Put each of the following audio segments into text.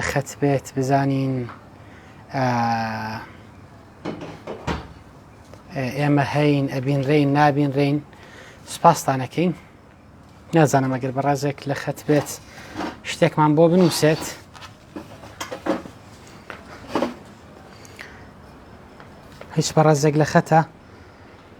خەت بێت بزانین ئێمە هەین ئەبینرین نابینرین سپاستانەکەین نازانم ئەگەر بەڕازێک لە خەت بێت شتێکمان بۆ بنووسێت هیچ بەڕازێک لە خەتە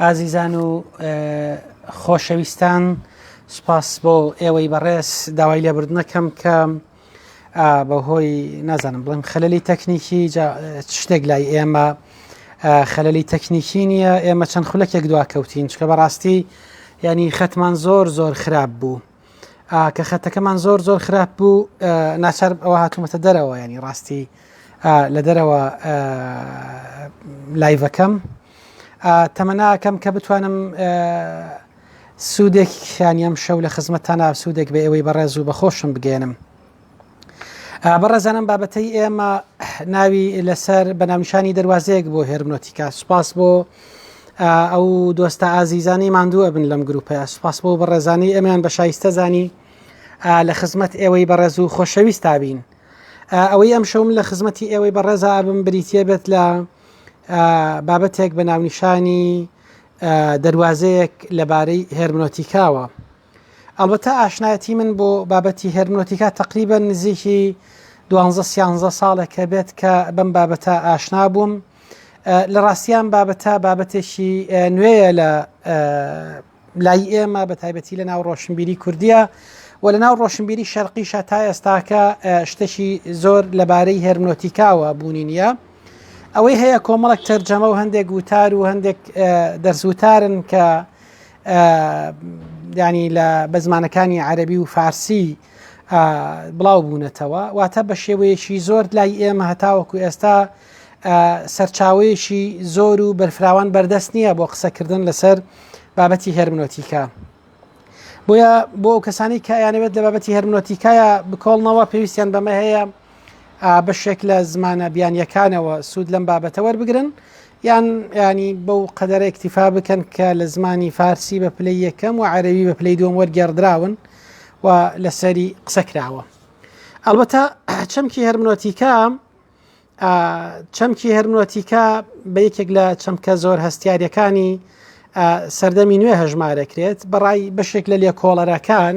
ئازیزان و خۆشەویستان سپاس بۆ ئێوەی بەڕێز داوای لێبردنەکەم کە بەهۆی نازانم بڵێم خەللی تەکنیکی شتێک لای ئێمە خەللی تەکنیکی نییە ئێمە چەند خولەکێک دواکەوتین چکە بەڕاستی ینی خەتمان زۆر زۆر خراپ بوو کە خەتەکەمان زۆر زۆر خراپ بوو ناچار ئەوە هاتوومەتە دەرەوە ینی ڕاستی لە دەرەوە لایڤەکەم تەمەناکەم کە بتوانم سوودێک خیانیم شەو لە خزمەتتانە سوودێک بە ئێوەی بەڕێز و بەخۆشم بگەێنم بەڕێزانم بابەتەی ئێمە ناوی لەسەر بەناونشانی دەواازەیەک بۆ هێرمنۆتیکا سوپاس بۆ ئەو دۆستە ئازیزانی ماندوو ئەبن لەم گروپە سوپاس بۆ بەڕێزانانی ئەمیان بە شایستە زانی لە خزمەت ئێوەی بەڕێز و خۆشەویست تابین ئەوەی ئەم شەوم لە خزمەتی ئێوەی بەڕێزا ئەبم بریتە بێت لە بابەتێک بە ناونیشانی دەواازەیەک لەبارەی هێرمنۆتیکاوە ئەڵبەتە ئاشنایەتی من بۆ بابەتی هێرمنۆتیکا تقریبا نزیکی دوانزە سیانزە ساڵێکە بێت کە بەم بابەتە ئاشنا بووم لە ڕاستیان بابەتە بابەتێکی نوێیە لە لای ئێمە بە تایبەتی لە ناو ڕۆشنبیری کوردیە و لە ناو ڕۆشنبیری شەرقیشە تا ئێستاکە شتێکی زۆر لەبارەی هێرمنۆتیکاوە بوونی نییە ئەوەی هەیە کۆمەڵک تەرجەمە و هەندێک وتار و هەندێک دەرزوتارن کە ینی لە بە زمانەکانی عەربی و فارسی بڵاو بوونەتەوە واتە بە شێوەیەکی زۆر لای ئێمە هەتاوەکو ئێستا سەرچاوەیەکی زۆر و بەرفراوان بەردەست نییە بۆ قسەکردن لەسەر بابەتی هەرمنۆتیکا بۆیە بۆ ئەو کەسانی کە یانەوێت لە بابەتی هەرمنۆتیکایە بکۆڵنەوە پێویستیان بەمە هەیە بەشێک لە زمانە بیانیەکانەوە سوود لەم بابەتە وەربگرن یان ینی بەو قەدەرە اکتیفا بکەن کە لە زمانی فارسی بە پلەی یەکەم و عەرەوی بە پلەی دوم وەرگێڕدراون و لەسەری قسە کراوە ئەڵبەتە چەمکی هەرمنۆتیکە چەمکی هەرمنۆتیکە بە یەکێک لە چەمکە زۆر هەستیارەکانی سەردەمی نوێ هەژمارەکرێت بەڕای بەشێک لە لێکۆڵەرەکان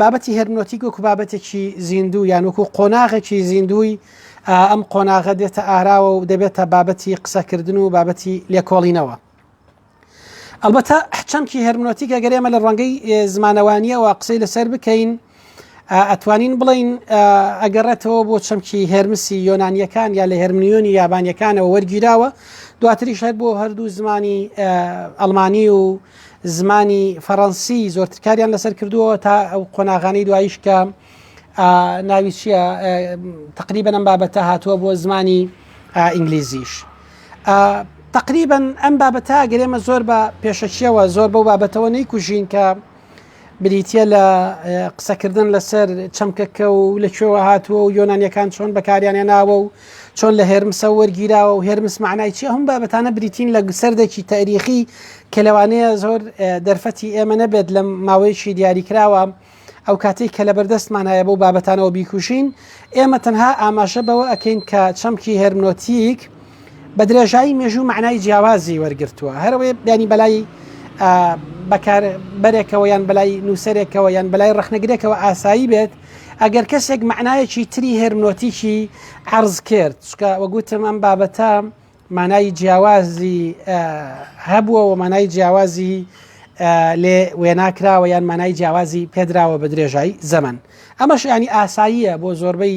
بابەتی هەرمنۆتیک وەکو بابەتێکی زیندوو یان وەکو قۆناغێکی زیندووی ئەم قۆناغە دێتە ئاراوە و دەبێتە بابەتی قسەکردن و بابەتی لێکۆڵینەوە. ئەلبەتە حچەمکی هەرمنۆتیکە گەرێمە لە ڕەنگەی زمانەوانیەوە قسەی لەسەر بکەین ئەتوانین بڵین ئەگەڕێتەوە بۆ چەمکی هەرمسی یۆنانیەکان یا لە هەرمنیۆنی یابانیەکانەوە وەرگیراوە دواتریش هەر بۆ هەردوو زمانی ئەلمانی و زمانی فەڕەنسی زۆرتر کاریان لەسەر کردووە تا ئەو قۆناغانەی دوایش کە ناوی چییە تقریبا ئەم بابەتە هاتووە بۆ زمانی ئینگلیزیش. تقریبا ئەم بابەتە گەرێمە زۆر بە پێشەکیەوە زۆر بەو بابەتەوە نەیکوژین کە بریتیە لە قسەکردن لەسەر چەمکەکە و لە کوێوە هاتووە و یۆنانیەکان چۆن بەکاریانە ناوە و چۆن لە هێرمسە وەرگیراوە و هێرمس معنای چی هەم بابەتانە بریتین لە سەردێکی تاریخی کە لەوانەیە زۆر دەرفەتی ئێمە نەبێت لە ماوەیەکی دیاریکراوە ئەو کاتێک کە لە بەردەستمان هەیە بۆ بابەتانەوە بیکوژین ئێمە تەنها ئاماژە بەوە ئەکەین کە چەمکی هەرمنۆتیک بە درێژایی مێژوو مەعنای جیاوازی وەرگرتووە، هەر ئەوەیە بیانی بەلای بەکاربەرێکەوە یان بەلای نووسەرێکەوە یان بەلای ڕخنەگرێکەوە ئاسایی بێت ئەگەر کەسێک مەعنایەکی تری هێرمنۆتیکی عرض کرد چکە وەگوتم ئەم بابەتە مانای جیاوازی هەبووە و مانای جیاوازی لێ وێناکراوە یان مانای جیاوازی پێدراوە بە درێژایی زەمن ئەمەش ینی ئاساییە بۆ زۆربەی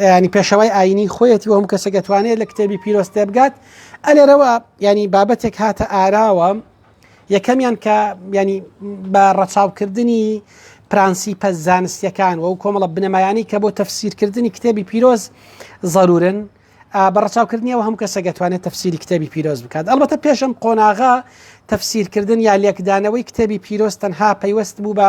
ینی پێشەوای ئاینی خۆیەتی ئەوم کەسێک دەتوانێت لە کتێبی پیرۆست تێبگات ئەلێرەوە ینی بابەتێک هاتە ئاراوە یەکەمیان کە ینی بە ڕەچاوکردنی پرانسیپە زانستیەکان و کۆمەڵە بنەمایانی کە بۆ تەفسیرکردنی کتێبی پیرۆز ضرورن بەڕچاوکردنیەوە هەم کەسە دەتوانێت تەفسیری کتێبی پیرۆز بکات ئەڵبەتە پێشم قۆناغا تەفسیرکردن یا لێکدانەوەی کتێبی پیرۆز تەنها پەیوەست بوو بە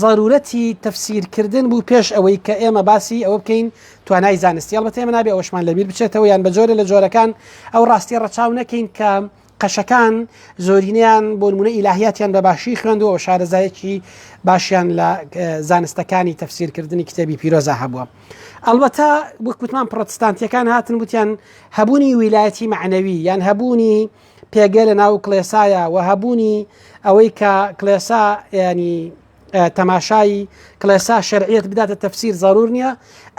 زەرورەتی تەفسیرکردن بوو پێش ئەوەی کە ئێمە باسی ئەوە بکەین توانای زانستی هەڵبەتە ئێمە نابێ ئەوشمان لەبیر بچێتەوە یان بە جۆرە لە جۆرەکان ئەو ڕاستی ڕەچاو نەکەین کە قەشەکان زۆرینیان بۆ نمونە ئیلاهیاتیان بە باشی خوێندەوە و شارەزایەکی باشیان لە زانستەکانی تەفسیرکردنی کتێبی پیرۆزە هەبووە. ئەڵبەتە وەکوتمان پرۆتستانتیەکان هاتن وتیان هەبوونی ویلایەتی معنەوی یان هەبوونی پێگە لە ناو کلێسایە و هەبوونی ئەوەی کە کلێسا ینی تەماشایی کلێسا شەرعیت بداتە تەفسیر زارور نییە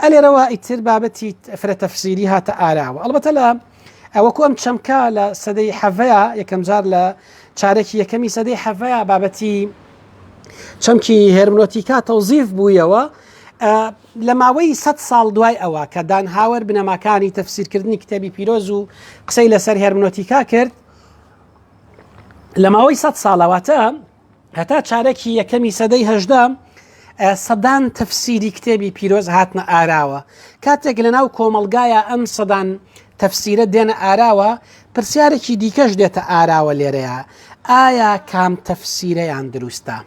ئەلێرەوە ئیتر بابەتی فرە تەفسیری هاتە ئاراوە ئەڵبەتە لە ئەوەکو ئەم چەمکە لە سەدەی حەڤەیە یەکەم جار لە چارێکی یەکەمی سەدەی حەڤەیە بابەتی چەمکی هەرمنۆتیکا تەوزیف بوویەوە لە ماوەی سەد ساڵ دوای ئەوە کە دانهاوەر بنەماکانی تەفسیرکردنی کتێبی پیرۆز و قسەی لەسەر هێرمنۆتیکا کرد لە ماوەی سەد ساڵەواتە هەتا چارەکی یەکەمی سەدەی هەژدا سەدان تەفسیری کتێبی پیرۆز هاتنە ئاراوە کاتێک لە ناو کۆمەلگایە ئەم سەدان تەفسیرە دێنە ئاراوە پرسیارێکی دیکەش دێتە ئاراوە لێرەیە ئایا کام تەفسیرەیان دروستە؟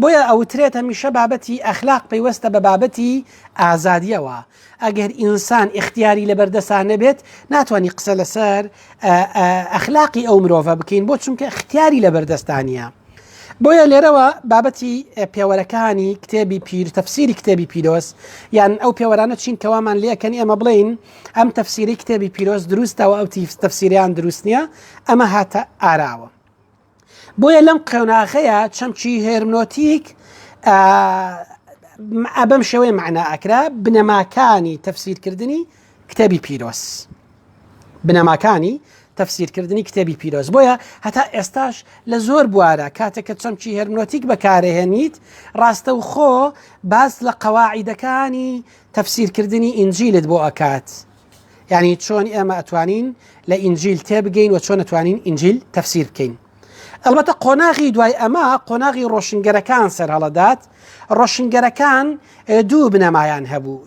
بۆیە ئەوترێت هەمیشە بابەتی ئەخلاق پەیوەستە بە بابەتی ئازادیەوە ئەگەر ئینسان اختیاری لە بەردەسان نەبێت ناتوانانی قسە لەسەر ئەخلاقی ئەو مرۆڤە بکەین بۆ چونکە اختیاری لە بەردەستانە بۆیە لێرەوە بابەتی پێوەرەکانی کتێبی پیر تەفسیری کتێبی پیرۆز یان ئەو پێوەرانە چین کەوامان لەکەنی ئەمە بڵین ئەم تەفسیری کتێبی پیرۆز دروستەوە ئەو تیف تەفسیریان دروست نییە ئەمە هاتە ئاراوە بۆیە لەم قۆناغەیە چەمکی هێرمنۆتیک ئەبەم شێوەی معنا ئەکرا بنەماکانی تەفسیرکردنی کتێبی پیرۆز بنەماکانی تەفسیرکردنی کتێبی پیرۆز بۆیە هەتا ئێستاش لە زۆر بوارە کاتێک کە چەمکی هەرمنۆتیک بەکارهێنیت ڕاستە و خۆ باس لە قەواعیدەکانی تەفسیرکردنی ئینجیلت بۆ ئەکات یعنی چۆن ئێمە ئەتوانین لە ئینجیل تێبگەین و چۆن ئەتوانین ئینجیل تەفسیر بکەین ئەلبەتە قۆناغی دوای ئەمە قۆناغی ڕۆشنگەرەکان سەر هەڵەدات ڕۆشنگەرەکان دوو بنەمایان هەبوو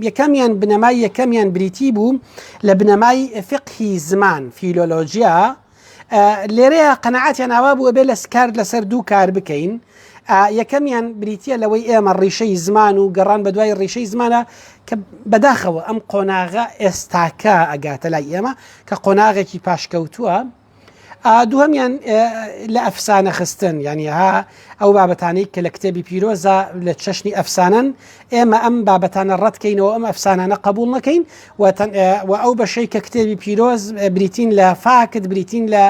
یەکەمیان بنەمای یەکەمیان بریتی بوو لە بنەمای فقهی زمان فیلۆلۆژیا لێرەیە قەنەعاتیان ئاوا بوو ئەبێ لە کارد لەسەر دوو کار بکەین یەکەمیان بریتە لەوەی ئێمە ڕیشەی زمان و گەڕان بە دوای ڕیشەی زمانە کە بەداخەوە ئەم قۆناغە ئێستاکە ئەگاتە لای ئێمە کە قۆناغێکی پاشکەوتووە دووەمیان لە ئەفسانە خستن یعنی ها ئەو بابەتانەی کە لە کتێبی پیرۆزە لە چەشنی ئەفسانەن ئێمە ئەم بابەتانە ڕەتکەینەوە ئەم ئەفسانانە قبول نەکەین و ئەو بەشەی کە کتێبی پیرۆز بریتین لە فاکت بریتین لە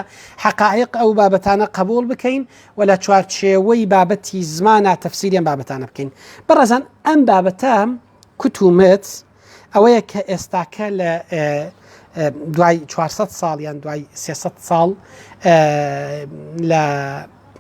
حقائق ئەو بابەتانە قبول بکەین و لە چوارچێوەی بابەتی زمانە تەفسیریان بابەتانە بکەین بەڕزان ئەم بابەتام کوتومت ئەوەیە کە ئێستاکە لە دوای 400 ساڵ یان دوای 300 ساڵ لە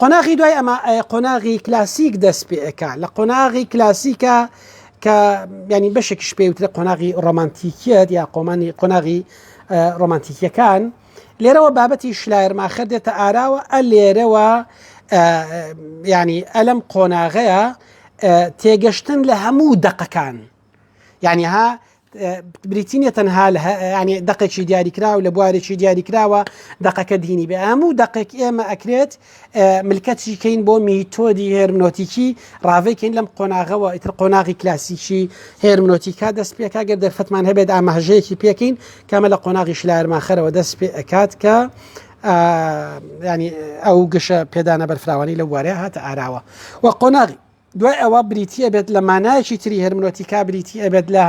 قۆناغی دوای ئەمە قۆناغی کلاسیک دەست پێکا لە قۆناغی کلاسیکە کە ینی بەشێکیش پێوترە قۆناغی ڕۆمانتیکیت یا قۆمانی قۆناغی ڕۆمانتیکیەکان لێرەوە بابەتی شلایرماخە دێتە ئاراوە ئە لێرەوە ینی ئەلم قۆناغەیە تێگەشتن لە هەموو دەقەکان یعنی ها بریتی نیە تەنها ینی دقێکی دیاریکراو لە بوارێکی دیاریکراوە دقەکە دینی بێ هەموو دقێک ئێمە ئەکرێت ملکەتی کەین بۆ میتۆدی هێرمنۆتیکی ڕاوێکین لەم قۆناغەوە ئیتر قۆناغی کلاسیکی هێرمنۆتیکا دەست پێکا گەر دەرفەتمان هەبێت ئاماژەیەکی پێکەین کەمە لە قۆناغی شلارماخەرەوە دەست پێ ئەکات کە ینی ئەو گەشە پێدانە بەرفراوانی لە وارەیە هاتە ئاراوە و قۆناغی دوای ئەوە بریتی ئەبێت لە مانایەکی تری هەرمنۆتیکا بریتی ئەبێت لە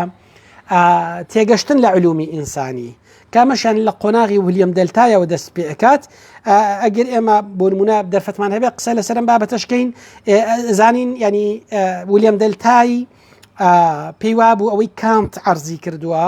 تێگەشتن لە علومی ئینسانی کامەشان لە قۆناغی ولیەم دەلتایەوە دەست پێکات ئەگەر ئێمە بۆنمونە دەرفەتمان هەبێ قسە لەسەرم بابەتەشکەین زانین ینی ولیەم دەلتایی پێی وابوو ئەوەی کانت ئەرزی کردووە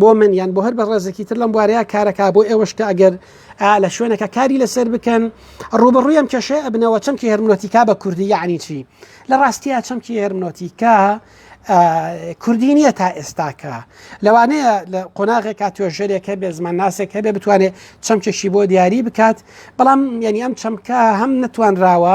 بۆ من یان بۆ هەر بە ڕێزێکی تر لەم بوارەیە کارەکە بۆ ئێوەش کە ئەگەر لە شوێنەکە کاری لەسەر بکەن ڕوبڕویم کێشێ ئەبنەوە چەمکی هەرمنۆتیکا بە کوردی یعنی چی لە ڕاستیە چەمکی هەرمنۆتیکا کوردی نییە تا ئێستاکە لەوانەیە لە قۆناغێکا توێژەرێک هەبێ زمان ناسێک هەبێ بتوانێت چەمکێکی بۆ دیاری بکات بەڵام یعنی ئەم چەمکە هەم نەتوانراوە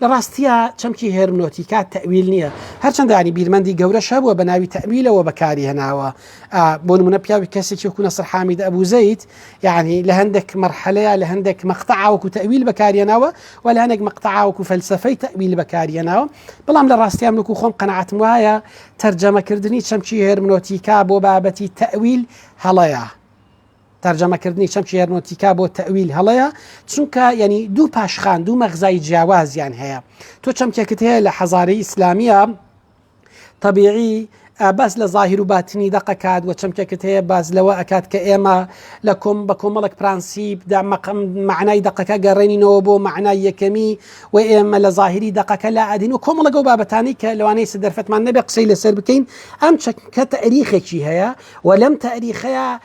لە ڕاستیا چەمکی هێرمنۆتیکا تەویل نییە هەرچەندە ینی بیرمەندی گەورە شەبووە بە ناوی تەویلەوە بەکاری هێناوە بۆ نمونە پیاوی کەسێکی کوونە سەرحامید ئەبوزەیت یعنی لە هەندێک مەرحەلەیە لە هەندێک مەقتەعاوکو تەویل بەکاریەناوە و لە هەندێک مەقتەعاوکو فەلسفەی تەویل بەکاریەناوە بەڵام لە ڕاستیان وکو خۆم قەنەعاتم وایە تەرجەمەکردنی چەمکی هێرمنۆتیکا بۆ بابەتی تەویل هەڵەیە. تەرجەمەکردنی چەمکی هەرمۆتیکا بۆ تەویل هەڵەیە چونکە یعنی دوو پاشخان دوو مەغزای جیاوازیان هەیە تۆ چەمکێکت هەیە لە حەزاری ئیسلامیە طبیعی بەس لە ظاهر و باتنی دەقەکات وە چەمکێکت هەیە باز لەوە ئەکات کە ئێمە لە کۆم بە کۆمەڵک پرانسیب دامەقم معنای دەقەکە گەڕێنینەوە بۆ معنای یەکەمی و ئێمە لە ظاهری دەقەکە لا ئەدین و کۆمەڵەگە و بابەتانی کە لەوانەیە سدەرفەتمان نەبێ قسەی لەسەر بکەین ئەم چەکە تەریخێکی هەیە و لەم تاریخەیە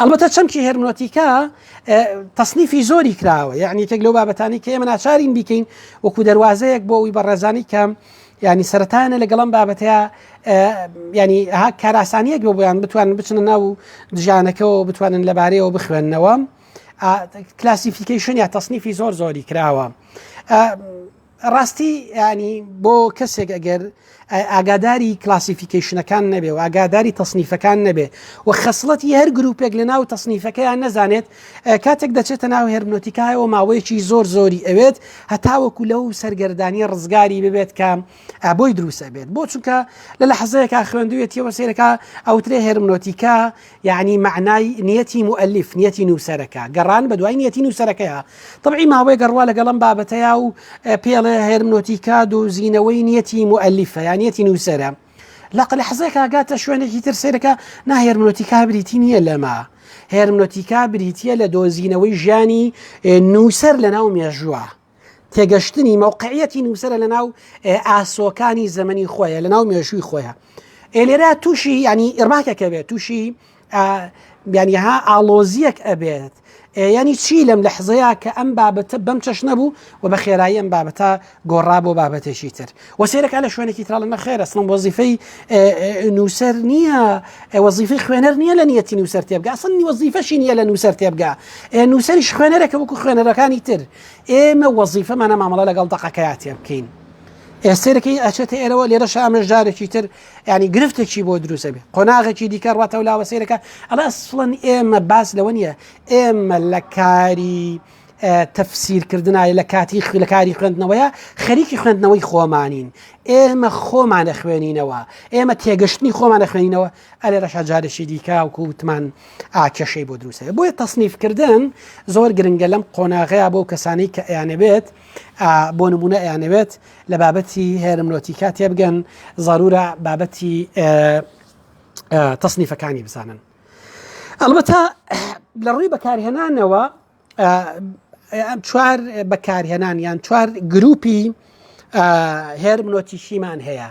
ئەلبەتە چەمکی هەرمنۆتیکا تەصنیفی زۆری کراوە یعنی تێک لەو بابەتانی کە ئێمە ناچارین بیکەین وەکو دەواازەیەک بۆ ئەوی بەڕێزانی کەم ینی سەرەتانە لەگەڵم بابەتەیە ینی ها کاراسانیەک بۆ بۆیان بتوانن بچنە ناو دژانەکەەوە بتوانن لەبارەیەوە بخوێندنەوە کلاسیفیکیشن یا تەصنیفی زۆر زۆری کراوە ڕاستی ینی بۆ کەسێک ئەگەر ئاگاداری کلاسیفیکیشنەکان نەبێ و ئاگاداری تەصنیفەکان نەبێ و خەسڵەتی هەر گروپێک لە ناو تەصنیفەکەیان نەزانێت کاتێک دەچێتە ناو هێرمنۆتیکایەوە ماوەیەکی زۆر زۆری ئەوێت هەتاوەکو لەو سەرگەردانی ڕزگاری ببێت کە بۆی دروسە بێت بۆ چونکە لە لە حەزەیەکە خوێندوێتیەوە سێرەکە ئەوترێ هێرمنۆتیکا یەعنی مەعنای نیەتی موئەلیف، نیەتی نووسەرەکە، گەڕان بە دوای نیەتی نووسەرەکەیە. تەبعی ماوەیەک ئەڕوا لەگەڵ ئەم بابەتەیا و پێڵێ هێرمنۆتیکا دۆزینەوەی نیەتی موئەلیفە یا نیەتی نووسەرە. لە قلەحزەکا گاتە شوێنێکی تر سەیرەکە نا هێرمنۆتیکا بریتی نییە لەمە. هێرمنۆتیکا بریتییە لە دۆزینەوەی ژیانی نووسەر لە ناو مێژووە. تێگەشتنی مەوقعەتی نووسرە لە ناو ئاسۆکانی زەمەنی خۆیە لە ناو مێژووی خۆیە ئێلێرا تووشی ینی ئێرماکەکە بێت تووشی بیانیها ئاڵۆزیەک ئەبێت ینی چی لەم لە حزەیە کە ئەم بابەتە بەم چەش نەبوو و بە خێرایی ئەم بابەتە گۆڕا بۆ بابەتێکی تر و سێرەکە لە شوێنێکی تراڵە نەخێرە سڵم وەزیفەی نووسەر نییە وەزیفی خوێنەر نییە لە نیەتی نووسەر تێبگە سنی وەزیفەشی نییە لە نووسەر تێبگە نووسەریش خوێنەرەکە وەکو خوێنەرەکانی تر ئێمە وەزیفەمانە مامەڵە لەگەڵ دەقەکەیا تێ بکەین ئێستێرەکەی ئەچێتە ئێرەوە لێرە شامە ژارێکی تر ینی گرفتێکی بۆ دروستە بێ قۆناغێکی دیکە ڕاتەوە لاوە سێرەکە ئەڵ ئەسڵەن ئێمە باس لەوە نیە ئێمە لە کاری تەفسیرکردنای لە کاتی خوێلەکاری خوێندنەوەیە خەریکی خوێندنەوەی خۆمانین ئێمە خۆمانە خوێنینەوە ئێمە تێگەشتنی خۆمانە خوێنینەوە ئەلێرەشا جارێکی دیکە وەکو وتمان ئاکێشەی بۆ دروست دەبێت بۆیە تەسنیفکردن زۆر گرنگە لەم قۆناغەیە بۆ کەسانی کە ئەیانەبێت بۆ نمونە ئەیانەوێت لە بابەتی هێرمنۆتیکا تێبگەن ضرورە بابەتی تەسنیفەکانی بزانن ئەلبەتە لە ڕووی بەکارهێنانەوە چوار بەکارهێنان یان چوار گروپی هێرمنۆتیشیمان هەیە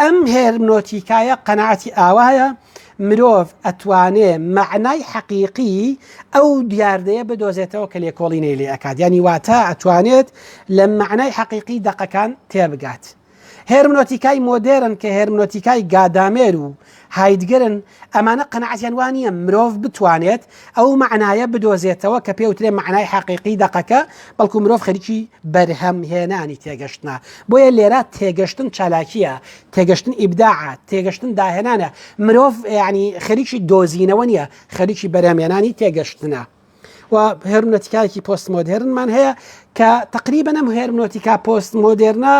ئەم هێرمنۆتیکایە قەناعەتی ئاوایە مرۆڤ ئەتوانێ مەعنای حەقیقی ئەو دیاردەیە بدۆزێتەوە کە لێکۆڵینەی لێ ئەکات یانی واتە ئەتوانێت لە مەعنای حەقیقی دەقەکان تێبگات هێرمنۆتیکای مۆدێرن کە هێرمنۆتیکای گادامێر و هایدگرن، ئەمانە قەناعەتیان وا نییە مرۆڤ بتوانێت ئەو مەعنایە بدۆزێتەوە کە پێوترێ مەعنای حەقیقی دەقەکە، بەڵکو مرۆڤ خەریکی بەرهەمهێنانی تێگەشتنە، بۆیە لێرە تێگەشتن چالاکییە، تێگەشتن ئیبداعە، تێگەشتن داهێنانە، مرۆڤ یەعنی خەریکی دۆزینەوە نییە، خەریکی بەرهەمهێنانی تێگەشتنە. و هێرمنۆتیکایەکی پۆست مۆدێرنمان هەیە کە تەقریبەن ئەم هێرمنۆتیکا پۆست مۆدێرنە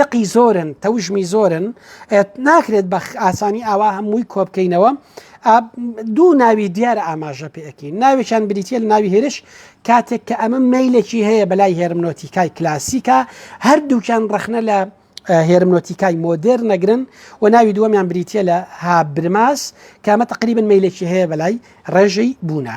لقی زۆرن تەوژمی زۆرن ناکرێت بە ئاسانی ئاوا هەمووی کۆبکەینەوە دوو ناوی دیارە ئاماژە پێەکەین ناوێکیان بریتە لە ناوی هێرش کاتێک کە ئەمە میلێکی هەیە بەلای هێرمنۆتیکای کلاسیکە هەردووکیان ڕخنە لە هێرمنۆتیکای مۆدێر نەگرن و ناوی دووەمیان بریتە لە هابرماس کامە تقریبن میلێکی هەیە بەلای ڕێژەی بوونە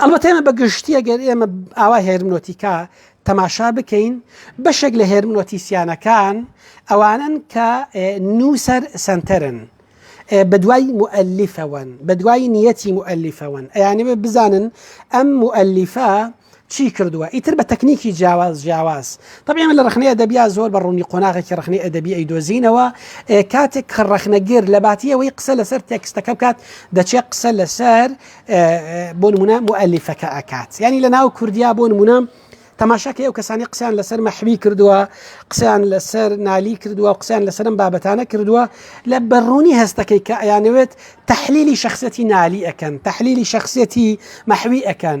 ئەڵبەتە ئێمە بە گشتی ئەگەر ئێمە ئاوا هێرمنۆتیکا تەماشا بکەین بەشێک لە هێرمنۆتیسیانەکان ئەوانن کە نووسەر سنتەرن بە دوای مؤلفەوەن بە دوای نیەتی مؤلفەوەن ئەیانەوێ بزانن ئەم مؤلفە چی کردووە ئیتر بە تەکنیکی جیاواز جیاواز طبعی من لە ڕخنەی ئەدەبیا زۆر بە ڕوونی قۆناغێکی ڕخنەی ئەدەبی ئەی دۆزینەوە کاتێک کە ڕخنەگر لە باتیەوەی قسە لەسەر تێکستەکە بکات دەچێت قسە لەسەر بۆ نمونە مؤلیفەکە ئەکات ینی لە ناو کوردیا بۆ نمونە تەماشاکە ئەو کەسانی قسەیان لەسەر مەحوی کردووە قسەیان لەسەر نالی کردووە قسەیان لەسرم بابەتانە کردووە لە بەڕوونی هەستەکەی کە ئەیانەوێت تحلیلی شخصەتی نالی ئەەکەن تحلیلی شخصەتی مەحوی ئەەکەن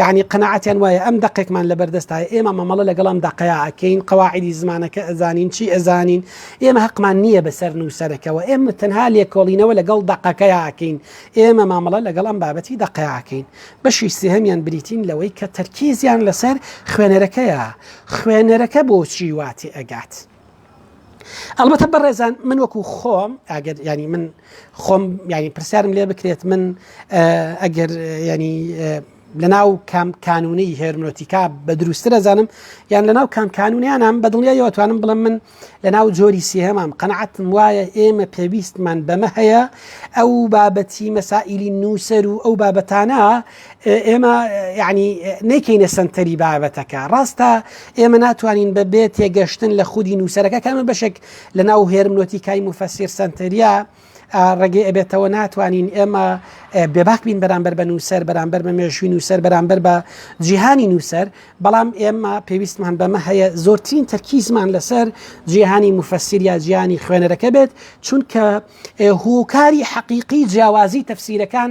یەعنی قەناعەتیان وایە ئەم دەقێکمان لەبەر دەستایە ئێمە مەمەڵە لەگەڵ ئەم دەقەیا ئەکەین قەواعیدی زمانەکە ئەزانین چی ئەزانین ئێمە هەقمان نییە بەسەر نووسەرەکەەوە ئێمە تەنها لێکۆڵینەوە لەگەڵ دەقەکەیا ئەکەین ئێمە مامەڵە لەگەڵ ئەم بابەتی دەقەیاکەین بەشی سێهەمیان بریتین لەوەی کە تەرکیزیان لەسەر خوێنەرەکەیە خوێنەرەکە بۆچی واتی ئەگات ئەڵبەتە بەڕێزان من وەکو خۆم ئاگەر ینی من خۆم ینی پرسیارم لێ بکرێت من ئەگەر ینی لە ناو کام کانونی هێرمۆتیکا بە دروستتر ئەزانم یان لە ناو کام کانونیانم بە دڵنیایەوەتوانم بڵم من لە ناو جۆری سێهمام قەنعاتم وایە ئێمە پێویستمان بەمە هەیە ئەو بابەتی مەسائللی نووسەر و ئەو بابەتانە ئێمە یعنی نەیکەینە سنتەری بابەتەکە ڕاستە ئێمە ناتوانین بە بێ تێگەشتن لە خودی نووسەرەکە کامە بەشێک لە ناو هێرمنۆتی کای مفەسیر سنتەریا ڕێگەی ئەبێتەوە ناتوانین ئێمە بێباک بین بەرامبەر بە نووسەر بەرامبەر بە مێژووی نووسەر بەرامبەر بە جیهانی نووسەر بەڵام ئێمە پێویستمان بەمە هەیە زۆرترین تەرکیزمان لەسەر جیهانی مفەسیر یا جیانی خوێنەرەکە بێت چونکە هۆکاری حەقیقی جیاوازی تەفسیرەکان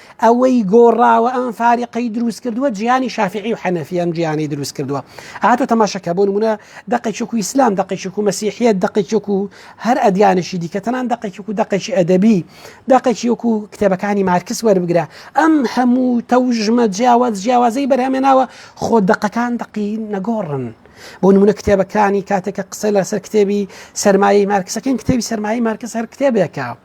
ئەوەی گۆڕاوە ئەم فارقەی دروست کردووە جیانی شافعی و حەنەفی ئەم جیانی دروست کردووە ئاتۆ تەماشەکە بۆ نمونە دقێکێک و ئیسلام دقێکێک و مەسیحیت دقێکێک و هەر ئەدیانشی دیکە تەنان دقێکێک و دقێکی ئەدەبی دقێکیەک و کتێبەکانی مارکس وەربگرە ئەم هەموو تەوژمە جیاواز جیاوازەی بەرهەمێناوە خۆ دقەکان دقی نەگۆڕن بۆ نمونە کتێبەکانی کاتێکە قسە لەسەر کتێبی سەرمایەی مارکسەکەین کتێبی سەرمایە مارکس هەر کتێبێکە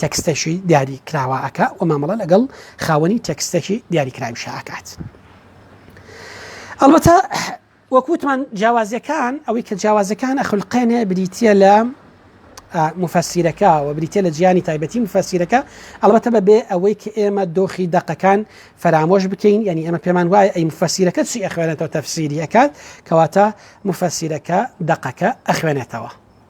تێکستەکی دیاری کراوە ئەکا و مامەڵە لەگەڵ خاوەنی تێکستەکی دیاری کراویشە ئەکات ئەڵبەتە وەکوتمان جیاوازەکان ئەوەی کە جیاوازەکان ئەخلقێنێ بریتە لە مفەسیرەکە و بریتە لە جیانی تایبەتی مفەسیرەکە ئەڵبەتە بە بێ ئەوەی کە ئێمە دۆخی دەقەکان فەرامۆش بکەین یعنی ئەمە پێمان وایە ئەی مفەسیرەکە چی ئەخوێنێتەوە تەفسیری ئەکات کەواتە مفەسیرەکە دەقەکە ئەخوێنێتەوە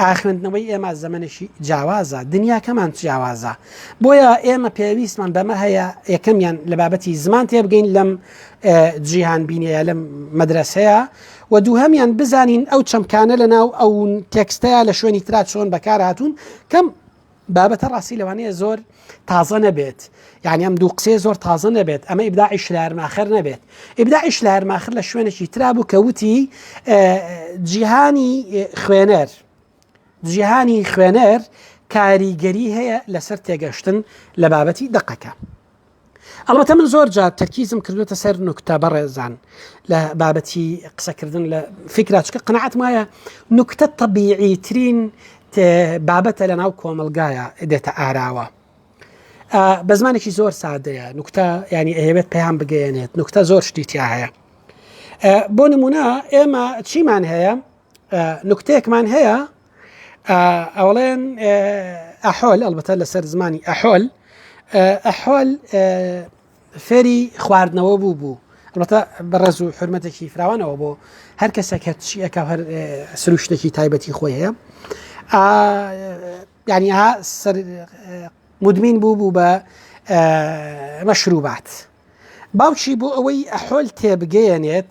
ئایا خوێندنەوەی ئێمە زەمەنێکی جیاوازە دنیاکەمان جیاوازە بۆیە ئێمە پێویستمان بەمە هەیە یەکەمیان لە بابەتی زمان تێبگەین لەم جیهان بینەیە لەم مەدرسەیە و دوو هەمیان بزانین ئەو چەمکانە لە ناو ئەو تێکستەیە لە شوێنی ترا چۆن بەکار هاتوون کەم بابەتە ڕاستی لەوانەیە زۆر تازە نەبێت یعنی ئەم دوو قسێ زۆر تازە نەبێت ئەمە ئیبداعی شلارماخر نەبێت ئیبداعی شلارماخر لە شوێنێکی ترا بوو کەوتی جیهانی خوێنەر جیهانی خوێنەر کاریگەری هەیە لەسەر تێگەشتن لە بابەتی دقەکە. ئەڵبەتە من زۆر جار تەرکیزم کردوێتە سەر نوکتە بەڕێزان لە بابەتی قسەکردن لە فکراچکە قەنەعات مایە نوکتە تەبیعی ترین بابەتە لە ناو کۆمەلگایە دێتە ئاراوە بە زمانێکی زۆر سادەیە نوکتە ینی ئەهێبێت پێیان بگەێنێت نوکتە زۆر شتیتیا هەیە بۆ نمونە ئێمە چیمان هەیە نوکتەیەکمان هەیە ئەوڵێن ئەحۆل ئەلبەتە لەسەر زمانی ئەحۆل ئەحۆل فێری خواردنەوە بوو بوو ئەڵبەتە بەڕێز و حرمەتێکی فراوانەوە بۆ هەر کەسێک هەر چی ئەک هەر سروشتێکی تایبەتی خۆی هەیە ینی ها سەر مدمین بوو بوو بە مەشروبات باوکی بۆ ئەوەی ئەحۆل تێبگەیەنێت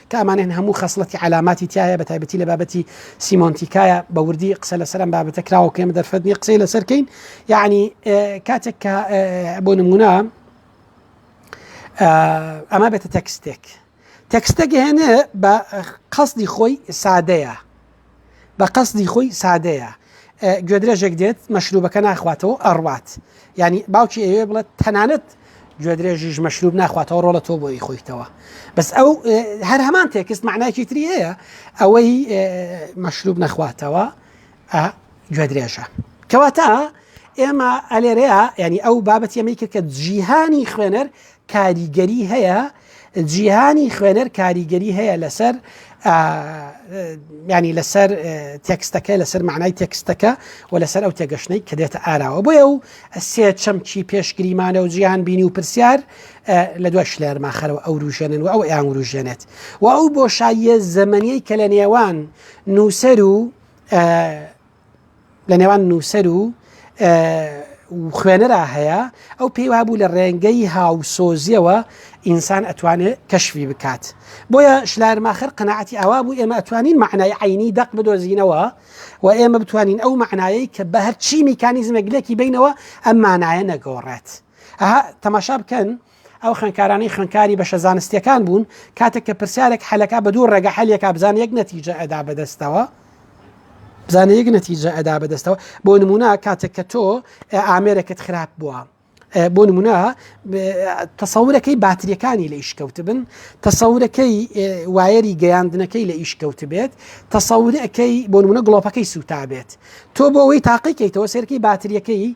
کە ئەمانەن هەموو خەسڵەتی عەلاماتی تیایە بە تایبەتی لە بابەتی سیمۆنتیکایە بە وردی قسە لەسەر ئەم بابەتە کراوە کێمە دەرفەت نیە قسەی لەسەر کەین یعنی کاتێک کە بۆ نمونە ئەمە بێتە تەکستێک تەکستەگەهێنێ بە قەستی خۆی سادەیە بە قەسدی خۆی سادەیە گوێدرێژێک دێت مەشروبەکە ناخواتەوە ئەڕوات ینی باوکی ئەوێ بڵێت تەنانەت گوێدرێژیش مەشروب ناخواتەوە ڕۆڵە تۆ بۆی خۆیتەوە بەس ئەو هەر هەمان تێکست معناکی تری هەیە ئەوەی مەشروب نەخواتەوە گوێدرێژە کەواتە ئێمە ئەلێرەیە ینی ئەو بابەت ئەمەی کرد کە جیهانی خوێنەر کاریگەری هەیە جیهانی خوێنەر کاریگەری هەیە لەسەر ینی لەسەر تێکستەکە لەسەر معنای تێکستەکە و لەسەر ئەو تێگەشتەی کە دێتە ئاراوە بۆیە و سێ چەمکی پێشگریمانە و جیهان بینی و پرسیار لە دوای شلێرماخەرەوە ئەو روژێنن و ئەو ئەیان وروژێنێت و ئەو بۆشاییە زەمەنیەی کە لە نێوان نووسەر و لە نێوان نووسەر و خوێنەرا هەیە ئەو پێی وابوو لە ڕێنگەی هاوسۆزیەوە ئینسان ئەتوانێت کەشوی بکات بۆیە شلارماخر قەنەعەتی ئاوا بوو ئێمە ئەتوانین معنای عینی دەق بدۆزینەوە و ئێمە بتوانین ئەو معنایەی کە بە هەرچی میکانیزمە گلێکی بینەوە ئەم مانایە نەگۆڕێت ئەها تەماشا بکەن ئەو خوێنکارانەی خوێنکاری بەشە زانستیەکان بوون کاتێک کە پرسیارێک حەلەکە بە دوو ڕێگە حەلێکا بزان یەک نەتیجە ئەدا بەدەستەوە بزانە یەک نەتیجە ئەدا بەدەستەوە بۆ نمونە کاتێک کە تۆ ئامێرەکەت خراپ بووە بۆ نمونە تەسەورەکەی باتریەکانی لە ئیشکەوت بن تەسەورەکەی وایەری گەیاندنەکەی لە ئیشکەوت بێت تەسەورەکەی بۆ نمونە گڵۆپەکەی سوتا بێت تۆ بۆ ئەوەی تاقیکەیتەوە سێرکی باتریەکەی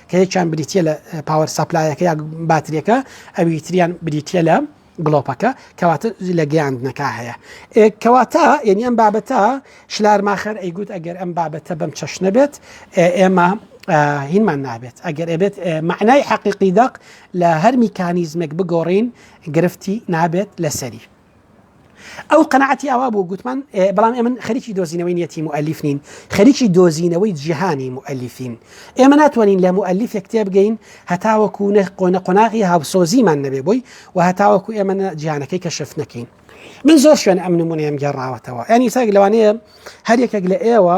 کە یەکیان بریتە لە پاوەر سەپلایەکە یا باتریەکە ئەوی تریان بریتە لە گڵۆپەکە کەواتە لە گەیاندنەکە هەیە کەواتە یعنی ئەم بابەتە شلارماخەر ئەیگوت ئەگەر ئەم بابەتە بەم چەشنە بێت ئێمە هینمان نابێت ئەگەر ئەبێت معنای حەقیقی دەق لە هەر میکانیزمێک بگۆڕین گرفتی نابێت لەسەری ئەو قەنەعەتی ئاوا بوو گوتمان بەڵام ئێمە خەریکی دۆزینەوەی نیەتی مؤلیف نین خەریکی دۆزینەوەی جیهانی مؤلیفین ئێمە ناتوانین لە مؤلیف کتێب بگەین هەتاوەکو نە قۆنە قۆناغی هاوسۆزیمان نەبێ بووی و هەتاوەکو ئێمە جیهانەکەی کەشف نەکەین من زۆر شوێن ئەم نمونەیەم گەڕاوەتەوە ینی ساگ لەوانەیە هەر یەکێک لە ئێوە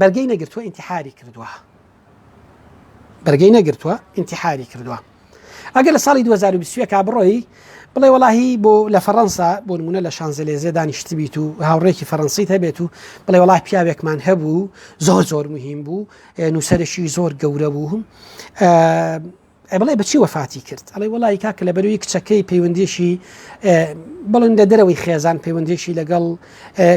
بەرگەی نەگرتووە ئینتحاری کردووە بەرگەی نەگرتووە ئینتحاری کردووە ئەگەر لە ساڵی 2020 کا بڕۆی بڵێ وڵی بۆ لە فەڕەنسا بۆ نمونە لە شانزلێزێ دانیشت بیت و هاوڕێکی فەرەنسیت هەبێت و بڵێ وڵا پیاوێکمان هەبوو زۆر زۆر مهم بوو نووسەرشی زۆر گەورە بووم ئەی بڵێ بەچی وەفاتی کرد ئەڵێ وڵی کاکە لە بەروی کچەکەی پەیوەندیشی بڵن لە دەرەوەی خێزان پەیوەندیشی لەگەڵ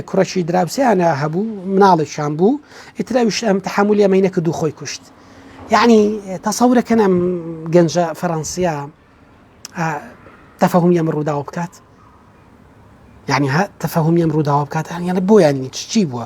کوڕەشی دراوسیانە هەبوو مناڵێکشان بوو ئیتراویش ئەم تحملی ئەمەی نەکە دوو خۆی کوشت یعنی تەسەورەکەن ئەم گەنجە فەڕەنسیا تەفەهم ئەم ڕووداوە بکات یعنی تەفەهم ئەم ڕووداوە بکات یان بۆیان چی بووە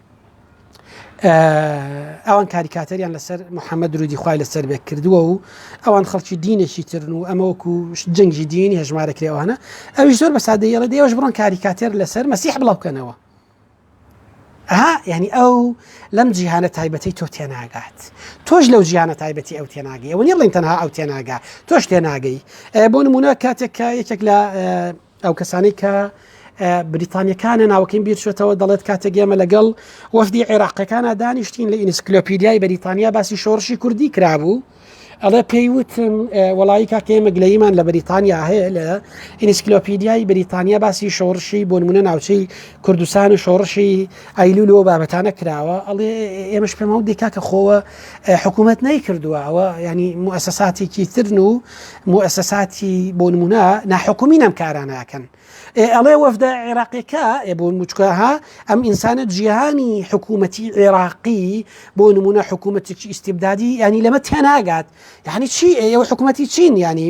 ئەوان کاریکاتەریان لەسەر محەممەد درودی خخوای لەسەر بێک کردووە و ئەوان خەڵکی دینێکی ترن و ئەمەوەکو جەنگی دینی هەژمارە کرێوانە ئەوی زۆر بە سادەیەڵە دێوەش بڕۆن کاریکاتێر لەسەر مەسیح بڵاوکەنەوە ها یعنی ئەو لەم جیهانە تایبەتی تۆ تێناگات تۆش لەو جیانە تایبەتی ئەو تێناگەی ئەوە نیڵین تەنها ئەو تێناگا تۆش تێناگەی بۆ نمونە کاتێک کە یەکێک لە ئەو کەسانەی کە بریتانیەکانە ناوکەین بیرچێتەوە دەڵێت کاتێک ئێمە لەگەڵ وەفدی عێراقەکانە دانیشتین لە ئینسکلۆپیدیای بەریتانیا باسی شۆڕشی کوردی کرابوو ئەڵێ پێیوتم وڵی کاکە مەگلەیمان لە بریتانیا هەیە لە ئینسکلۆپیدیای بریتانیا باسی شۆڕشی بۆنمونە ناوچەی کوردستان و شۆڕشی ئایلو لەوە بابەتانە کراوە ئەڵێ ئێمەش پێمەوە دیکا کە خۆوە حکوومەت نەیکردووە ئەوە ینی موسەساتێکی ترن و موئەسەساتی بۆ نمونە ناحکومی نەم کارانە ئەکەن ئەڵێ وەفدە عێراقیەکە بۆ مچکەها ئەم ئینسانە جیهانی حکوومەتی عێراقی بۆ نمونە حکوومەتێکی ئیسیبدادی ینی لەمە تێناگات یعنی چی ئێوە حکوومەتی چین ینی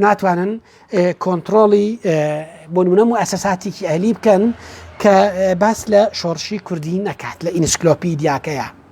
ناتوانن کۆنتترۆڵی بۆ نمونە و ئەسەساتێکی ئەلی بکەن کە باس لە شۆڕشی کوردی نەکات لە ئینسکلۆپی دیاکەیە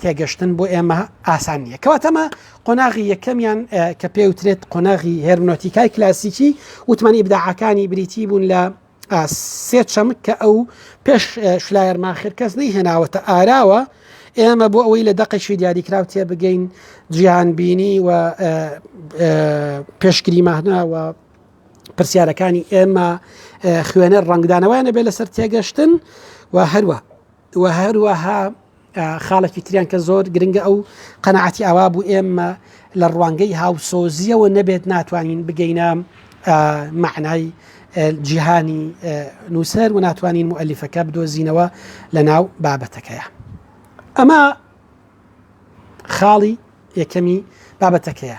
تێگەشتن بۆ ئێمە ئاسان نییە کەواتەمە قۆناغی یەکەمیان کە پێ وترێت قۆناغی هێرمنۆتیکای کلاسیکی وتمانی بداعەکانی بریتی بوون لە سێ چەمک کە ئەو پێش شلایەرمان خێرکەس نەی هێناوەتە ئاراوە ئێمە بۆ ئەوەی لە دەقێکی دیاریکرااو تێ بگەین جیان بینی و پێشگری ماهنا و پرسیارەکانی ئێمە خوێنەر ڕنگدانەوەیانە بێ لەسەر تێگەشتن و هەروە وە هەروەها خاڵێکی تریان کە زۆر گرنگە ئەو قەنەعەتی ئاوا بوو ئێمە لە ڕوانگەی هاوسۆزیەوە نەبێت ناتوانین بگەینە معنای جیهانی نووسەر و ناتوانین مؤلیفەکە بدۆزینەوە لە ناو بابەتەکەیە ئەمە خاڵی یەکەمی بابەتەکەیە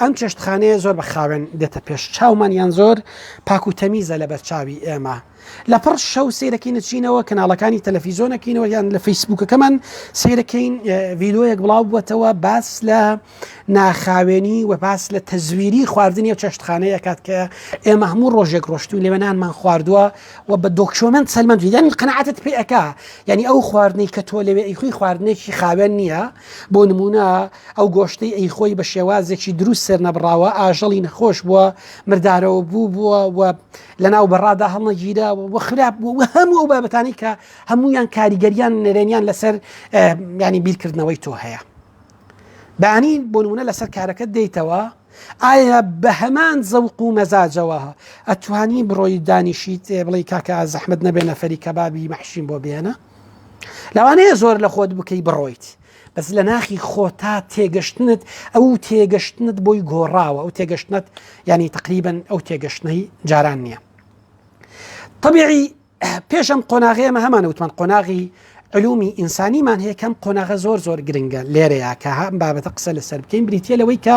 ئەم چێشتخانەیە زۆر بە خاوێن دێتە پێش چاومان یان زۆر پاک و تەمیزە لە بەرچاوی ئێمە لە پڕ شەو سیرەکەی نچینەوە کەناڵەکانی تەلەفیزۆنەکەینەوە یان لە فەیسبوکەکەمان سیرەکەین ڤیدۆیەک بڵاو بووەتەوە باس لە ناخاوێنی و باس لە تەزویری خواردنی و چێشتخانەیە کات کە ئێمە هەموو ڕۆژێک ڕۆشتوی لێوەنانمان خواردووە و بە دۆکشۆمنت سەلمەند یان قەنعاتت پێ ئەک ینی ئەو خواردنەی کە تۆ لەوێ ئیخوی خواردنێکی خاوێن نییە بۆ نمونە ئەو گۆشتەی ئەیخۆی بە شێوازێکی دروست سەرنەبڕاوە ئاژەڵی نەخۆش بووە مردارەوە بوو بووە و لەناو بەڕادا هەڵنەگیرا و خراپ بوو و هەموو ئەو بابەتانی کە هەمویان کاریگەریان نەرێنیان لەسەر ینی بیرکردنەوەی تۆ هەیە بانی بۆنمونە لەسەر کارەکە دەیتەوە ئایا بە هەمان زەوق و مەزاجەوە ئەتوانی بڕۆی دانیشیت بڵی کاکە زەحمت نەبێ نەفەری کەبابی مەحشین بۆ بێنە لەوانەیە زۆر لە خۆت بکەی بڕۆیت بەس لە ناخی خۆتا تێگەشتنت ئەو تێگەشتنت بۆی گۆڕاوە ئەو تێگەشتنت ینی تقریبن ئەو تێگەشتنەی جاران نییە طبیعی پێشم قۆناغێمە هەمان وتمان قۆناغی علومی ئینسانیمان هەیە کەم قۆناغە زۆر زۆر گرنگە لێرەیە کە هەم بابەتە قسە لەسەر بکەین بریتە لەوەی کە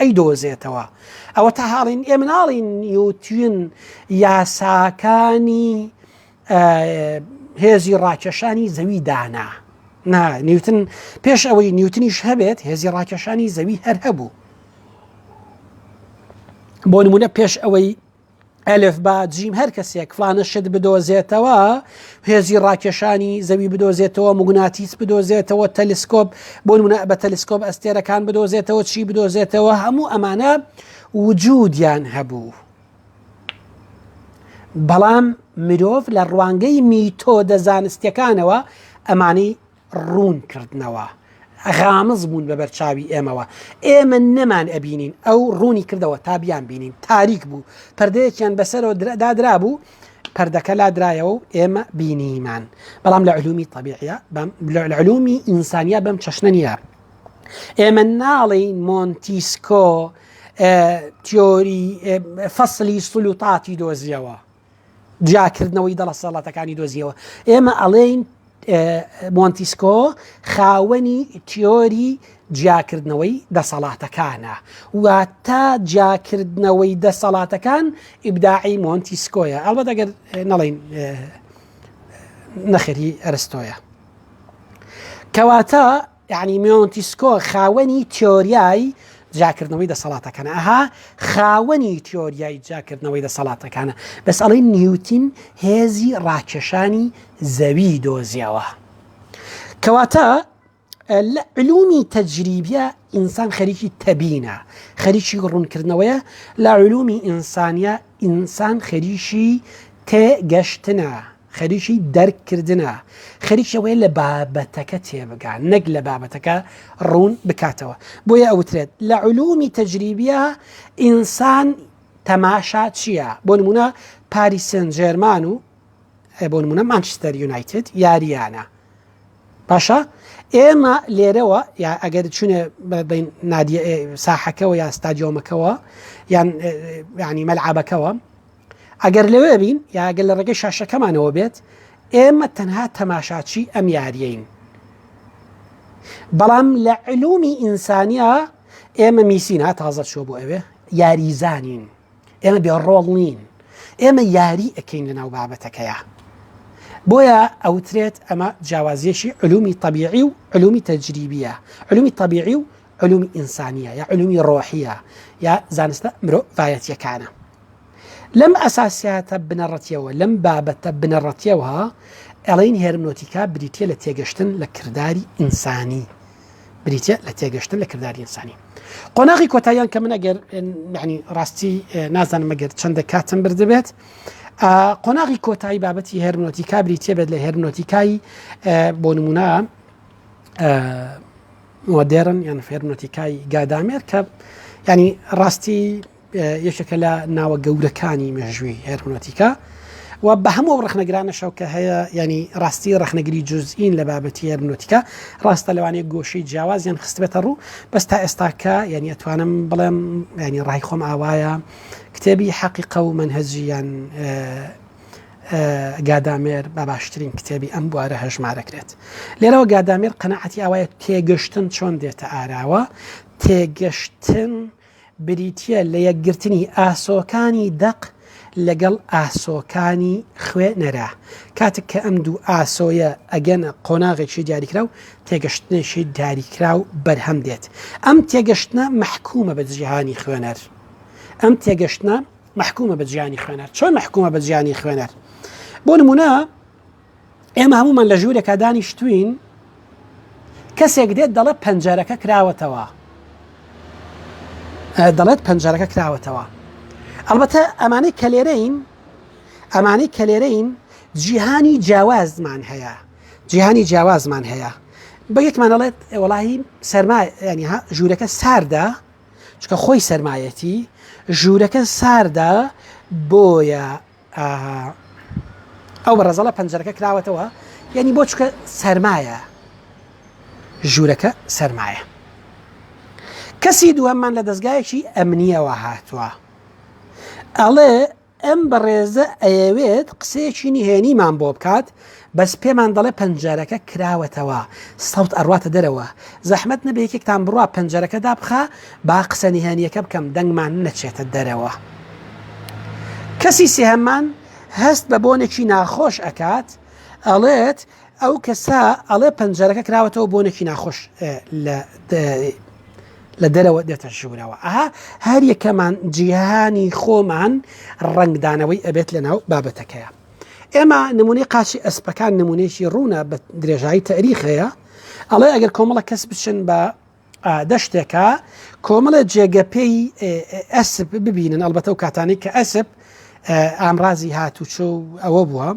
ئەیدۆزێتەوە ئەوەتا هاڵین ئێ مناڵی نیوتین یاساکانی هێزی ڕاکێشانی زەوی دانا نا نیوتن پێش ئەوەی نیوتنیش هەبێت هێزی ڕاکێشانی زەوی هەر هەبوو بۆ نمونە پێش ئەوەی ئەلف با جیم هەر کەسێک فلانە شت بدۆزێتەوە هێزی ڕاکێشانی زەوی بدۆزێتەوە مگوناتیس بدۆزێتەوە تەلیسکۆپ بۆ منە بە تەلیسکۆپ ئەستێرەکان بدۆزێتەوە چی بدۆزێتەوە هەموو ئەمانە وجودیان هەبوو. بەڵام مرۆڤ لە ڕوانگەی میتۆدە زانستەکانەوە ئەمانەی ڕوون کردنەوە غامز بوون بە بەرچاوی ئێمەوە ئێمە نەمان ئەبینین ئەو ڕوونی کردەوە تا بیان بینین تاریک بوو پردەیەکیان بەسەرەوە دادرا بوو پردەکە لا درایەوە و ئێمە بینیمان بەڵام لە علومی طبیعە لە علومی ئینسانیا بەم چەشنە نیە ئێمە ناڵین مۆنتیسکۆ تیۆری فەصلی سلوتاتی دۆزیەوە جیاکردنەوەی دەڵەسەڵاتەکانی دۆزیەوە ئێمە ئەڵێین مۆنتیسکۆ خاوەنی تیۆری جیاکردنەوەی دەسەڵاتەکانە و تا جیاکردنەوەی دەسەڵاتەکان ئیبداعی مۆنتیسکۆیە ئەڵبەت ئەگەر نەڵین نەخێری ئەرستۆیە کەواتە یەعنی میۆنتیسکۆ خاوەنی تیۆریای جیاکردنەوەی دەسەڵاتەکانە ئەها خاوەنی تیۆریای جیاکردنەوەی دەسەڵاتەکانە بەس ئەڵی نیوتین هێزی ڕاکێشانی زەوی دۆزیەوە کەواتە لە علومی تەجریبیە ئینسان خەریکی تەبینە خەریکی ڕوونکردنەوەیە لە علومی ئینسانە ئینسان خەریکی تێگەشتنە خەریکی دەرک کردنە، خەریکی ئەوەیە لە بابەتەکە تێبگا نەک لە بابەتەکە ڕوون بکاتەوە، بۆیە ئەوترێت لە علومی تەجریبیە ئینسان تەماشا چیە، بۆ نمونە پاریس سێنت جێرمان و بۆ نمونە مانچستەر یونایتد یاریانە باشە ئێمە لێرەوە یا ئەگەر چونێ بین نادیە ساحەکەەوە یا ستادیۆمەکەەوە یان ینی مەلعابەکەەوە ئەگەر لەوێ بین یا ئەگەر لە ڕێگەی شاشەکەمانەوە بێت ئێمە تەنها تەماشاچی ئەم یاریین بەڵام لە علومی ئینسانیا ئێمە میسین ها تازە چۆ بۆ ئەوێ یاریزانین ئێمە بێ ڕۆڵ نین ئێمە یاری ئەەکەین لە ناو بابەتەکەیە بۆیە ئەوترێت ئەمە جیاوازیەکی علومی طبیعی و علومی تەجریبیە علومی طبیعی و علومی ئینسانیە یا علومی ڕۆحیە یا زانستە مرۆڤایەتیەکانە لەم ئەساسیاتە بنەڕەتیەوە لەم بابەتە بنەڕەتیەوە ئەڵین هێرمنۆتیکا بریتە لە تێگەشتن لە کردداری ئینسانی بریتە لە تێگەشتن لە کردداری ئینسانی قۆناغی کۆتاییان کە من ئەگەر معنی ڕاستی نازانم مەگەر چەندە کاتم بردبێت قۆناغی کۆتایی بابەتی هێرمنۆتیکا بریتە بێت لە هێرمنۆتیکای بۆ نمونە مۆدێرن یان فێرمەتیکای گادامێر کە ینی ڕاستی یەکێکە لە ناوە گەورەکانی مێژووی هێرمۆتیکا و بە هەموو ڕخنەگرانەشەو کە هەیە ینی ڕاستی ڕخنەگری جزئین لە بابەتی هێرمۆتیکا ڕاستە لەوانەیە گۆشەی جیاوازیان خستبێتە ڕوو بەس تا ئێستاکە یعنی ئەتوانم بڵێم ینی ڕای خۆم ئاوایە کتێبی حەقیقە و منهجیان گادامێر بە باشترین کتێبی ئەم بوارە هەژمارەکرێت لێرەوە گادامێر قەنەعەتی ئەوەیە تێگەشتن چۆن دێتە ئاراوە تێگەشتن بریتە لە یەکگرتنی ئاسۆکانی دەق لەگەڵ ئاسۆکانی خوێ نەرا کاتێک کە ئەم دوو ئاسۆیە ئەگەنە قۆناغێکی دیاریکرا و تێگەشتنێکی دیاریکرا و بەرهەم دێت ئەم تێگەشتە محکومە بە جیهانی خوێنەر ئەم تێگەشتە مەحکومە بە جیانی خوێنەر چۆن مەحکومە بە جیانی خوێنەر بۆ نمونە ئێمە هەمومان لە ژوورێکا دانیشتوین کەسێک دێت دەڵێ پەنجەرەکە کراوەتەوە دەڵێت پەنجەرەکە کراوەتەوە ئەڵبەتە ئەمانەی کەلێرەین ئەمانەی کەلێرەین جیهانی جیاوازمان هەیە جیهانی جیاوازمان هەیە بە یەکمانەڵێت وڵی سەرما ینی ژوورەکە ساردە چکە خۆی سەرمایەتی ژوورەکە ساردە بۆیە ئەو بە ڕزەڵە پەنجەرەکە کراوەتەوە یعنی بۆ چکە سەرمایە ژوورەکە سەرمایە کەسی دووەممان لە دەستگایەکی ئەمنیەوە هاتووە ئەڵێ ئەم بەڕێزە ئەیەوێت قسەیەکی نهێنیمان بۆ بکات بەس پێمان دەڵێ پەنجەرەکە کراوەتەوە سەوت ئەڕواتە دەرەوە زەحمەت نەبێ یەکێکتان بڕوا پەنجەرەکە دابخا با قسە نهێنیەکە بکەم دەنگمان نەچێتە دەرەوە کەسی سێهەممان هەست بە بۆنێکی ناخۆش ئەکات ئەڵێت ئەو کەسە ئەڵێ پەنجەرەکە کراوەتەوە بۆ نەکی ناخۆش لە دەرەوە دێتە ژوورەوە ئەها هەر یەکەمان جیهانی خۆمان ڕنگدانەوەی ئەبێت لە ناو بابەتەکەیە ئێمە نمونەی قاچی ئەسپەکان نمونەیەکی ڕوونە بە درێژایی تەریخەیە ئەڵێ ئەگەر کۆمەڵە کەس بچن بە دەشتێکە کۆمەڵە جێگە پێی ئەسب ببینن ئەلبەتە و کاتانی کە ئەسب ئامرازی هاتوچۆ و ئەوە بووە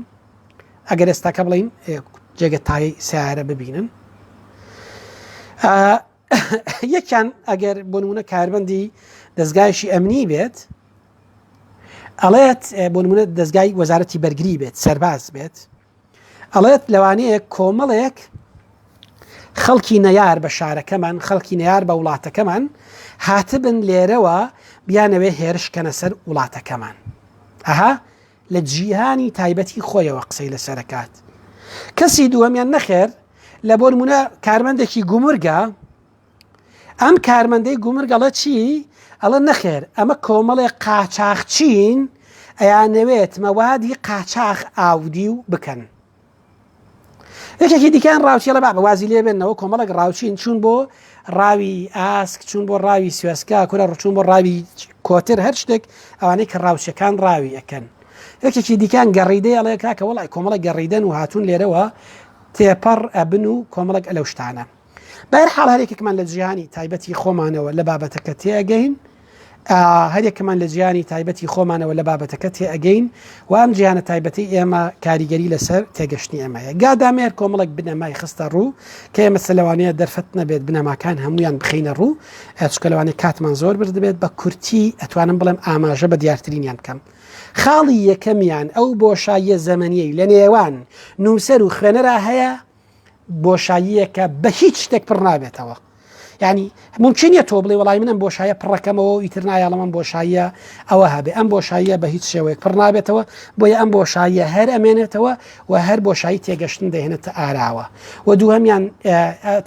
ئەگەر ئێستاکە بڵین جێگە تای سیارە ببینن یەکیان ئەگەر بۆنمونە کاربندی دەستگایشی ئەمنی بێت ئەڵێت بۆنمونە دەستگای وەزارەتی بەرگری بێت سەرباز بێت ئەڵێت لەوانەیە کۆمەڵێک خەڵکی نەیار بە شارەکەمان خەڵکی نەیار بە وڵاتەکەمان هاتبن لێرەوە بیانەوێ هێرشکەنە سەر وڵاتەکەمان ئەها لە جیهانی تایبەتی خۆیەوە قسەی لەسەرکات کەسی دووەمیان نەخێر لە بۆرمونە کارمەندێکی گومرگە ئەم کارمەندەی گومرگەڵە چی ئەڵە نەخێر ئەمە کۆمەڵێ قاچاخچین ئەیانەوێت مەوادی قاچاخ ئاودی و بکەن یەکێکی دیکان ڕاوچیڵە با بەوازی لێ بێنەوە کۆمەڵک ڕاوچین چون بۆ ڕاوی ئاسک چون بۆ ڕاوی سوێسکا کورە ڕچون بۆ ڕاوی کۆتر هەر شتێک ئەوانەی کە ڕاوچەکان ڕاوی ئەەکەن یەکێکی دیکان گەڕیدەی ئەڵێ کاکە وڵی کۆمەڵە گەڕیدەن و هاتون لێرەوە تێپەڕ ئەبن و کۆمەڵک ئەلەو شتانە بەر حاڵ هەرێکێکمان لە جیهانی تایبەتی خۆمانەوە لە بابەتەکە تێگەین هەرێکمان لە جیهانی تایبەتی خۆمانەوە لە بابەتەکە تێئەگەین و ئەم جیهانە تایبەتی ئێمە کاریگەری لەسەر تێگەشتنی ئەمە هەیە گادامێر کۆمەڵک بنەمای خستە ڕوو کە ئێمە سەلوانەیە دەرفەت نەبێت بنەماکان هەمویان بخینە ڕوو ئەچکەلوانی کاتمان زۆر برد دەبێت بە کورتی ئەتوانم بڵێم ئاماژە بە دیارترینیان بکەم خاڵی یەکەمیان ئەو بۆشاییە زەمەنیەی لە نێوان نووسەر و خوێنەرا هەیە بۆشاییەکە بە هیچ شتێک پڕ نابێتەوە ینی ممکنە تۆ بڵێ وڵی منم بۆشایە پڕەکەمەوە و ئیتر نایە من بۆشاییە ئەوە هەبێ ئەم بۆشاییە بە هیچ شێوەیەک پڕ نابێتەوە بۆیە ئەم بۆشاییە هەر ئەمێنێتەوە و هەر بۆشایی تێگەشتن دەهێنێتە ئاراوە و دووهمیان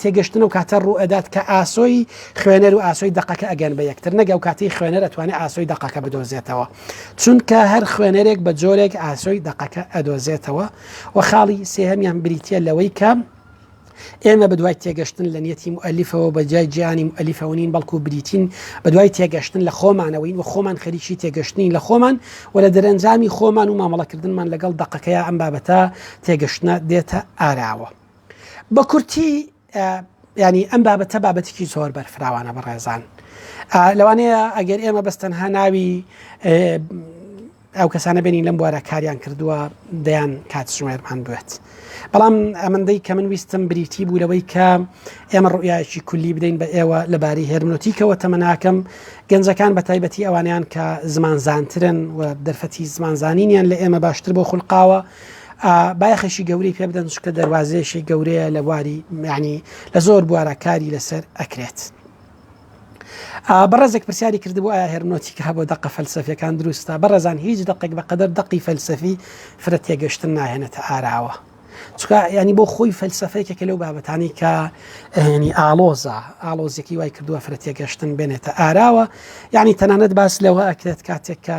تێگەشتن و کاتە ڕوئەدات کە ئاسۆی خوێنەر و ئاسۆی دقەکە ئەگەن بە یەکتر نەگە و کاتی خوێنەر ئەتوانێت ئاسۆی دقەکە بدۆزێتەوە چونکە هەر خوێنەرێک بە جۆرێک ئاسۆی دقەکە ئەدۆزێتەوە و خاڵی سێهەمیان بریتە لەوەی کە ئێمە بەدوای تێگەشتن لە نیەتی مؤلیفەوە بە جای جیانی مؤلیفەونین بەڵکو بریتین بەدوای تێگەشتن لە خۆمانەوەین و خۆمان خەریکی تێگەشتنی لە خۆمان و لە دەرەنجامی خۆمان و مامەڵەکردنمان لەگەڵ دەقەکەی ئەم بابەتە تێگەشتە دێتە ئاراوە بە کورتی یانی ئەم بابەتە بابەتێکی زۆر بەرفراوانە بەڕێزان لەوانەیە ئەگەر ئێمە بەستەنها ناوی ئەو کەسانە بێنین لەم بوارە کاریان کردووە دەیان کات ژمێرمان بێت بەڵام ئەمەندەی کە من ویستم بریتی بوو لەوەی کە ئێمە ڕوئایکی کولی بدەین بە ئێوە لەباری هێرمنۆتیکەوە تەمەناکەم گەنجەکان بە تایبەتی ئەوانیان کە زمان زانترن و دەرفەتی زمان زانینیان لە ئێمە باشتر بۆ خولقاوە بایەخێکی گەورەی پێ بدەن چکە دەواازەیەشی گەورەیە لە بواری میانی لە زۆر بوارە کاری لەسەر ئەکرێت. بەڕێزێک پرسیاری کردبوو ئایا هەرنۆتی کە بۆ دەقە فەلسفەکان دروستە بەڕێزان هیچ دقێک بەقدر دقی فەلسفی فرە تێگەشتن ناهێنێتە ئاراوە. چکە ینی بۆ خۆی فەلسفەیەکێکە لەو بابەتانی کە هێنی ئالۆزە ئالۆزیەکی وای کردووە فرە تێگەشتن بێنێتە ئاراوە یعنی تەنانەت باس لەوە ئەکرێت کاتێک کە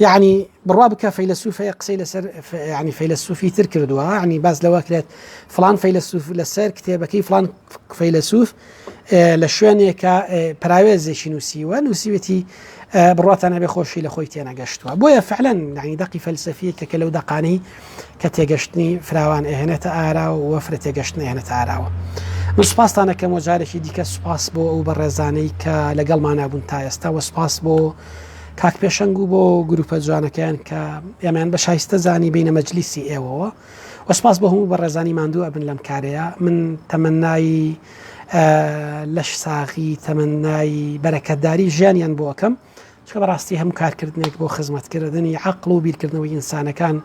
یعنی بڕوا بکە فەیلسوفەیە قسەی لەسەر ینی فەیلسوفی تر کردووە ینی باز لەوە کرێت فلان فەیلسوف لەسەر کتێبەکەی فلان فەیلسوف لە شوێنێکە پراوێزێکی نووسیوە نووسیوێتی بڕاتانە بێ خۆشی لە خۆی تێنەگەشتووە بۆیە فعلەن نعی دەقی فەلسفیە کە لەو دەقانی کە تێگەشتنی فراوان ئەهێنێتە ئاراوە و فرە تێگەشتن ئەهێنێتە ئاراوە من سوپاستان دەکەم و جارێکی دیکە سوپاس بۆ ئەو بەڕێزانەی کە لەگەڵمانە بوون تا ئێستا وە سوپاس بۆ کاک پێشەنگ و بۆ گروپە جوانەکەیان کە ئێمەیان بە شایستە زانی بینە مەجلیسی ئێوەوە وەسپاس بە هەموو بە ڕێزانی ماندوو ئەبن لەم کارەیە من تەمەنایی لەش ساغی تەمەنایی بەرەکەتداری ژیانیان بۆکەم چکە بەڕاستی هەم کارکردنێک بۆ خزمەتکردنی عقل و بیرکردنەوەی ئینسانەکان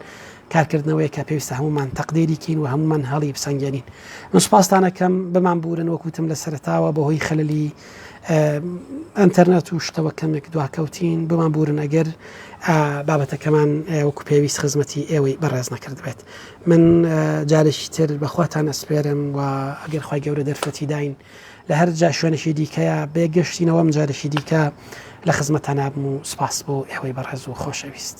کارکردنەوەی کە پێویستە هەمومان تەقدێریکەین و هەمومان هەڵی بسەنگێنین من سپاستانەکەم بمان بورن وەکوتم لە سەرتاوە بەهۆی خەللی ئەتەرنەت و شتەوە کەمێک دواکەوتین بمان بورن ئەگەر بابەتەکەمان وەکو پێویست خزمەتی ئێوەی بەڕێز نەکرد بێت من جارێکی تر بەخواتان ئەسپێرم و ئەگەر خی گەورە دەرفەتی داین لە هەر جا شوێنێکی دیکەیە بێ گەشتی نەوەم جارێکی دیکە لە خزمەتانابم و سوپاس بۆ ئێوەی بەڕێز و خۆشەویست.